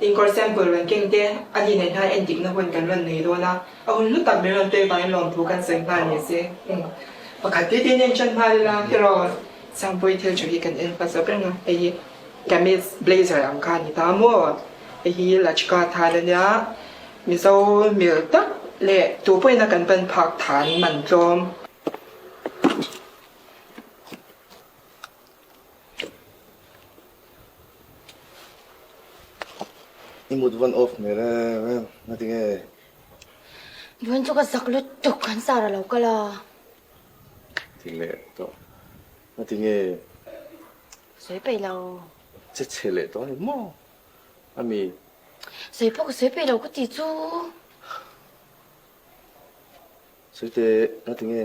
Inkawr sample rawn keng te, a hlin nei hna endikna hun kan rawn nei dawn a, a hun lutak min rawn tei vangin lawmthu kan sawi nghal ni se. Umm, pakhat te te nen tan nghal ila, hero Sangpuii thil tha hi kan en fat zawk reng a, hei hi Kamis blazer ang kha a ni ta maw? Hei hi Lachka than a nia, Mizo hmel tak leh tupawina kan pan phak than man tlawm. I mut vawn off hmel em em a ti nge? Vawn chu ka zak lut tuk an sar a lo kal a. Ti leh tawh a ti nge? Sawi peih lo. Che che leh tawh a ni maw? A mi. Sawi pawh ka sawi peih lo ka ti chu. Sawi teh a ti nge?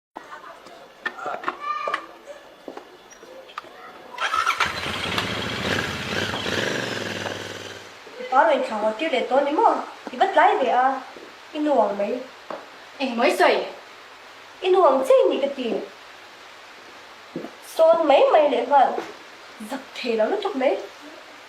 I pa rawn inthla ngawt tir leh dawn ni maw? I va tlai ve a, i nu ang mai. Eng mawi sawi? I nu ang che ni ka ti. Sawn mai mai leh nghal zak thei lo lutuk mai.